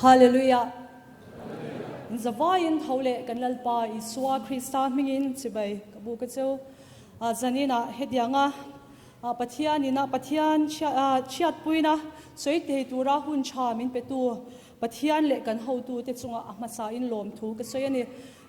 Hallelujah! Zavaiin tho leh kan Lalpa Isua Krista hmingin chibai ka bu ka chu. A zaninah hetianga a Pathianin a Pathian chhiat puina sawi thei tura hun tha min petu Pathian leh kan hotute chunga a hmasain lawm thu ka sawi a ni.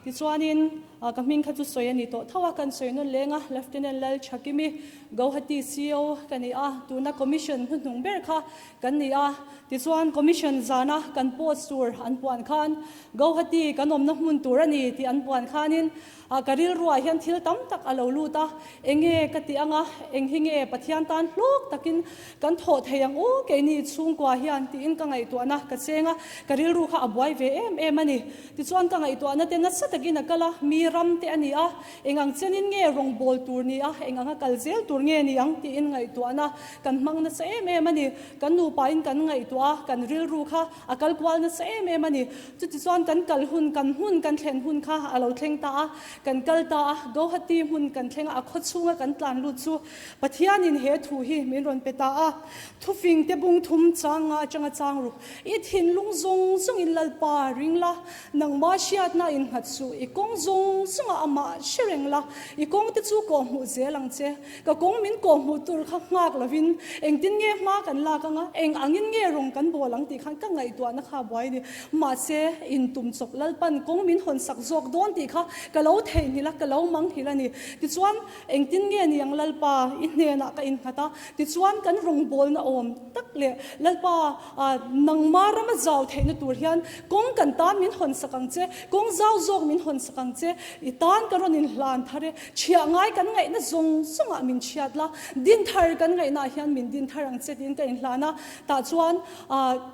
Tichuanin ka hming kha chu sawi a ni tawh tho a, kan sawi nawn leng a, Lieutenant Lalchhakimi, Gauhati CO ka ni a, tuna Commission hnuhnung ber kha kan ni a, tichuan Commission zana kan post tur an puan khan Gauhati kan awmna hmun tur a ni tih an puan khanin, A ka rilruah hian thil tam tak a lo lut a, Enge ka ti anga, eng hi nge Pathian tan hlawk takin kan thawh thei ang u, keini chhungkua hian tiin ka ngaihtuahna ka cheng a, ka rilru kha a buai ve em em a ni. Tichuan ka ngaihtuahna te natsa takin a kal a, mi ram te a ni a, eng ang chenin nge rawngbâwl tur ni a, eng anga kal zel tur nge ni ang tiin ngaihtuahna kan hmang natsa em em a ni. Kan nupain kan ngaihtuah a, kan rilru kha A kal kual nasa em em a ni. Chuti chuan kan kal hun, kan hmun, kan thlen hun kha a lo thleng ta a, kan kal ta a. Gauhati hmun kan thlenga a khawchhunga kan tlan lut chu Pathianin he thu hi min rawn pe ta a. Thufing te bung thum chang nga atanga chang ru i thinlung zawng zawngin Lalpa ring la, nangma hriatna in nghat suh i kawng zawng zawngah amah hre reng la, i kawngte chu kawhhmuh zel ang che. Ka kawng min kawh hmuh tur kha nghak lovin engtin nge hma kan lak anga, eng angin nge rawng kan bawl ang tih khan ka ngaihtuahna kha a buai a ni. Mahse, in tum chawp lalpan kawng min hawn sak zawk dawn tih kha ka lo theihnghilh a, ka lo manghilh a ni. Tichuan, engtin nge ni ang Lalpa, i hnenah ka innghat a, tichuan kan rawng bawlna awm tak leh Lalpa a, nangma rama zau theihna tur hian kawng kan tan min hawn sak ang che, kawng zau zawk min hawn sak ang che, i tan ka rawn inhlan thar e. Chhiah ngai kan ngaihna zawng zawngah min chhiat la, din thar kan ngaihnaah hian min din thar ang che tiin ka inhlan a. Tah chuan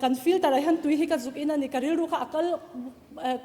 kan filter ah hian tui hi ka zuk in a ni, ka rilru kha a kal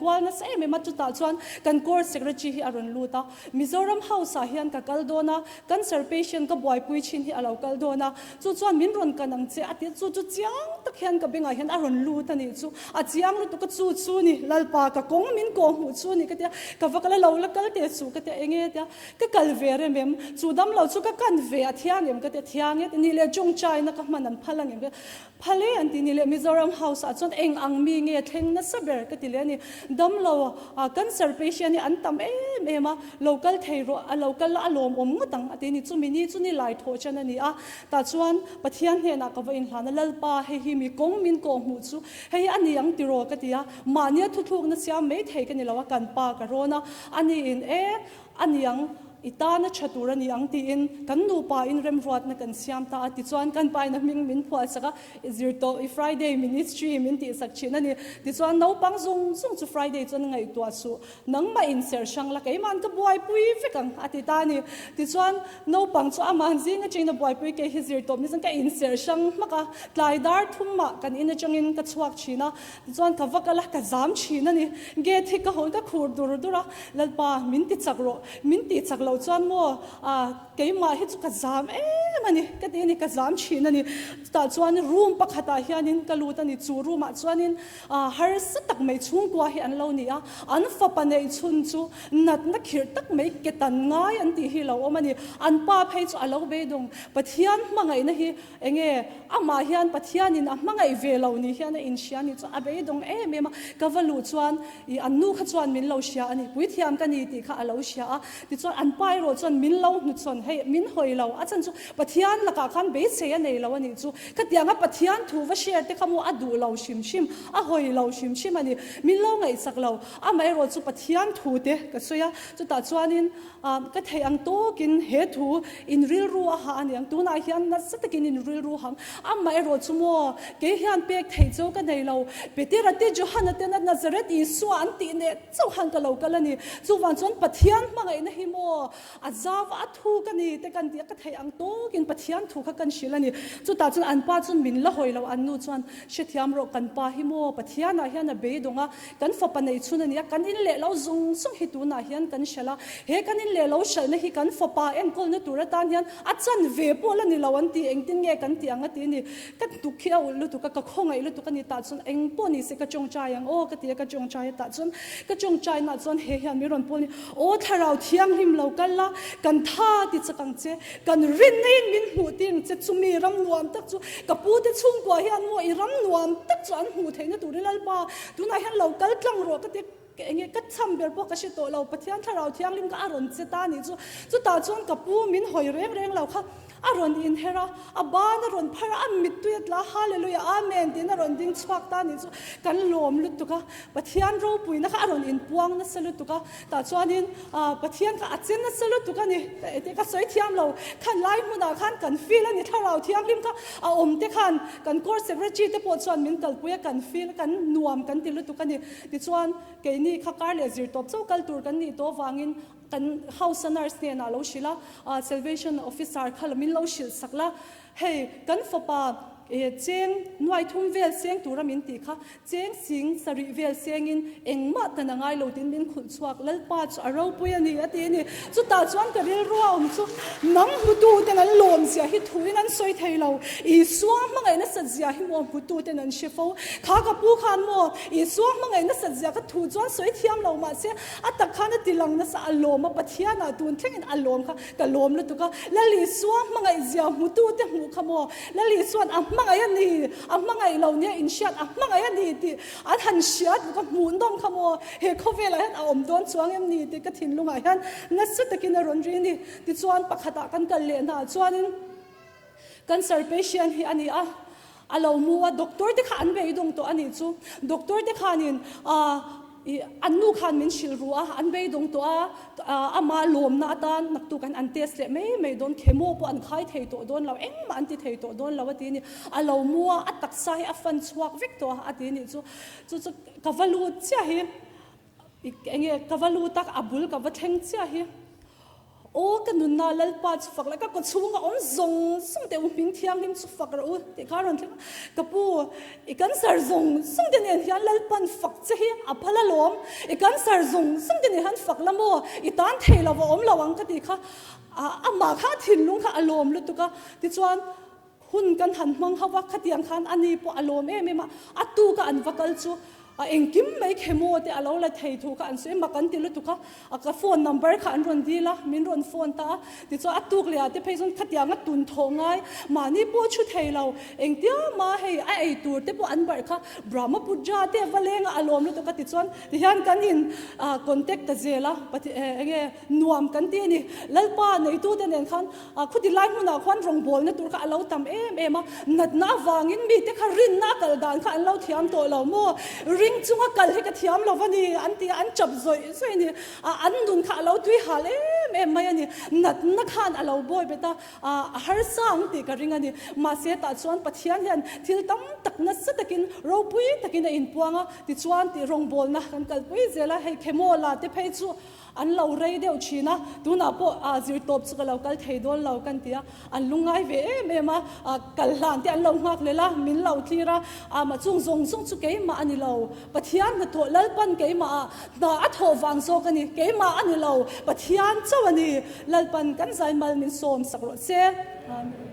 kual nasa em em a, chutah chuan kan court secretary hi a rawn lut a. Mizoram House ah hian ka kal dawn a, cancer patient ka buaipui thin hi a lo kal dawn a. Chu chuan min rawn kan ang che a ti a, chu chu chiang tak hian ka bengah hian a rawn lut a nih chu, a chiang lutuk a chu chu ni, Lalpa ka kawng min kawh hmuh chu ni ka tia, ka va kal a lo la kal teh chu ka tia, enge tia ka kal ve rem em, chu dam lo chu ka kan ve a thiang em ka tia, thiang e, nih leh chung chaina ka hman an phal ang em ka tia, phal e an ti, nih leh Mizoram House ah chuan eng ang mi nge thleng nasa ber ka ti leh a ni, dam lo a cancer patient hi an tam em em a, Lo kal thei rawh, a lo kal a, a lawm awm ngawt ang a ti a ni. Chu mi ni chu ni lai thawh chan a ni a. Tah chuan Pathian hnenah ka va inhlan a, Lalpa, hei hi mi kawng min kawh hmuh chu hei hi a ni ang ti rawh ka ti a, mahnia thuthlukna siam mai thei ka ni lo a, kan pa ka rawn a, a ni in e, a ni ang, i tana tha tur a ni ang tiin kan nupa in remruatna kan siam ta a. Tichuan kan pa in a hming min phuah chak a, i zir tawh, i Friday ministry min tihsak thin a ni. Tichuan naupang zung zung chu Friday chuan ngaihtuah suh Nangmah in ser hrang la keima'n ka buaipui vek ang, a ti ta a ni. Tichuan, naupang chu ama'n zing atangin a buaipui kei hi zir tawp nasa ka inser hrang hmak a. Tlai dar thum mah kan in atangin ka chhuak thin a, tichuan ka va kal a, ka zam thin a ni. Gate hi ka hawn ka khur dur dur a, Lalpa, min ti chak rawh, min tih chak lo chuan maw, a, keimah hi chu ka zam em a ni, ka ti a ni, ka zam thin a ni. Chutah chuan room pakhatah hianin ka lut a ni, chu room ah chuanin A harsa tak mai chhungkua hi an lo ni a, an fapa nei chhun chu natna khirh tak mai ke tan ngai an tih hi lo awm a ni. An pa phei chu a lo beidawng. Pathian hmangaihna hi eng nge? Amah hian Pathianin a hmangaih ve lo nih hian a inhria nih chu a beidawng em em a. Ka va luh chuan i an nu kha chuan min lo hria a ni, puithiam ka ni tih kha a lo hria a. Tichuan an pa erawh chuan min lo hnuchhawn hei, min hawi lo a chan chu. Pathian lakah khan beisei a nei lo a nih chu. Khatiang a Pathian thu va share te kha maw a duh lo hrim hrim, a hawi lo hrim hrim a ni. Min lo ngaihchak lo, amaherawh chu Pathian thu te ka sawi a, chutah chuanin ka theih ang tawkin he thu in rilru a ha a ni ang. Tunah hian nasa takin in rilru hang, amaherawh chu maw kei hian pek theih cho ka nei lo. Petera te Johana ten a Nazareth Isua an tih neh chauh han ka lo kal a ni. Chuvang chuan Pathian hmangaihna hi maw A zau a, thu ka ni te kan tih ka theih ang tawk in Pathian thu kha kan hrilh a ni. Chutah chuan an pa chuan min la hawi lo an nu chuan hrethiam rawh kan pa hi maw Pathian ah hian a beidawng a kan fapa nei chhun a ni a kan in leh lo zung zung hi tun ah hian kan hrilh a he kan in leh lo hrilh na hi kan fapa enkawl na tur atan hian a chan ve pawh la ni lo an ti engtin nge kan tih ang a ti a ni. Ka hnutuk khi a ulh lutuk a, ka khaw ngaih lutuk a ni tah chuan eng pawh nise ka ṭawngṭai ang aw ka ti a, ka ṭawngṭai a tah chuan ka ṭawngṭai naah chuan hei hian Miron Paul nih aw thlarau thianghlim lo kal la kan tha ti chak ang che, kan rin ngaiin min hmuh ti ang che, chumi ram nuam tak chu ka pu te chhungkua hian maw i ram nuam tak chu an hmuh theihna tur i lalpa tunah hian lo kal tlang rawh ka ti. Kei enge ka cham ber pawh ka hre tawh lo, Pathian Thlarau Thianghlim kha a rawn che ta ni chu. Chutah chuan ka pu min hawi reng reng lo kha a rawn inher a, a ban a rawn phar a, a mittui a tla a, Hallelujah, Amen tiin a rawn ding chhuak ta ni chu kan lawm lutuk a, Pathian ropuina kha a rawn inpuang nasa lutuk a, tah chuanin aah Pathian kha a che nasa lutuk a ni. Engtin ka sawi thiam lo, khan lai hmunah khan kan feel a ni, Thlarau Thianghlim kha a awmte khan kan court secretary te pawh chuan min kalpui a, kan feel, kan nuam kan ti lutuk a ni. Tichuan, keini kha kar leh zir tawp chauh kal tur kan nih tawh avangin kan House-a nurse hnenah a lo hrilh a, aa Salvation Officer kha lo min lo hrilh sak la, hei kan fapa ee cheng nuai thum vel seng tura min tih kha cheng sing sarih vel sengin engmah kan a ngai lo tiin min khunhchhuah. Chhuak Lalpa chu a ropui a ni a ti a ni. Chutah chuan ka rilru a awm chu nang hmutu ten an lawm zia hi thuin an sawi thei lo. Isua hmangaih nasat zia hi maw hmutu ten an hre fo. Kha ka pu khan maw Isua hmangaih nasat zia ka thu chuan sawi thiam lo mah se a tak khan a ti lang nasa a lawm a Pathianah tun thlengin a lawm kha ka lawm lutuk a. Lal Isua hmangaih zia hmutu te hmuh kha maw Lal Isuan a hmangaih a ni a hmangaih lo nia in hriat a hmangaih a ni tih An han hria duh ka hmuh nawm kha maw, he khawvelah hian a awm dawn chuang em ni tih ka thinlungah hian nasa takin a rawn ri a ni. Tichuan pakhatah kan kal leh hna ah chuanin, Cancer patient hi a ni a, a lo mu a, doctor te kha an beidawng tawh a nih chu. Doctor te khanin, Ahh, an nu khan min hrilh ruh a, an beidawng tawh a. Amah lawmna atan naktuk an an test leh mai mai dawn, chemo pawh an khai thei tawh dawn lo, engmah an ti thei tawh dawn lo a ti a ni. A lo mu a, a taksa hi a fan chhuak vek tawh a a ti a nih chu. Chu chu ka va lut chiah hi, eng nge ka va lut a, a bul ka va thleng chiah hi. Aw ka nunna Lalpa chu fak la, ka kawchhunga awm zawng zawng te u hming thianghlim chu fak rawh u tih kha a rawn thleng a. Ka pu, I kan sar zung zung te nen hian Lalpan fak che hi a phal alawm, i kan sar zung zung te nen han fak la maw, i tan thei lo va awm lo ang ka tih kha amah kha a thinlung kha a lawm lutuk a, tichuan hun kan han hmang ho va khatiang khan ani pawh a lawm em em a, a tu ka an va kal chu A engkim mai khemaw tih a lo la thei thu kha an sawi mak an ti lutuk a, a ka phone number kha an rawn dil a, min rawn phone ta a, tichuan a tuk leh ah te phei zawn khatia nga tun thawh ngai mahni pawh a thu thei lo, engtia ma hei a ei tur te pawh an barh kha Brahmapudra te a va leng a, a lawm lutuk a tichuan tihian kan in contact ta zel a, pathian enge nuam kan ti a ni, Lalpa neitu te nen khan A khuti lai hmunah khuan rawngbawlna tur kha a lo tam em em a, natna avangin mite kha rinna a kal dan kha an lo thiam tawh lo maw, ring chunga kal hi ka thiam lo va ni an ti a, an chap zawih zawih a ni a, an nun kha a lo tui hal em em mai a ni, natna khan a lo bawi bet a, a harsa ang tih ka ring a ni, mahse tah chuan Pathian hian thil tam tak nasa takin ropui takin a inpuang a, tichuan tih rawngbawlna kan kalpui zel a, hei khemaw la te phei chu An lo rei deuh thin a, tunah pawh a zir tawp chu ka lo kal thei dawn lo kan ti a, an lu ngai ve em em a, kal hlan te an lo nghak lel a, min lo tlir a, amah chung zawng zawng chu keimah a ni lo, Pathian hnathawh Lalpan keimah a hna a thawh vang zawk a ni, keimah a ni lo, Pathian chauh a ni, Lalpan kan zaimal min sawm sak rawh che. Amen.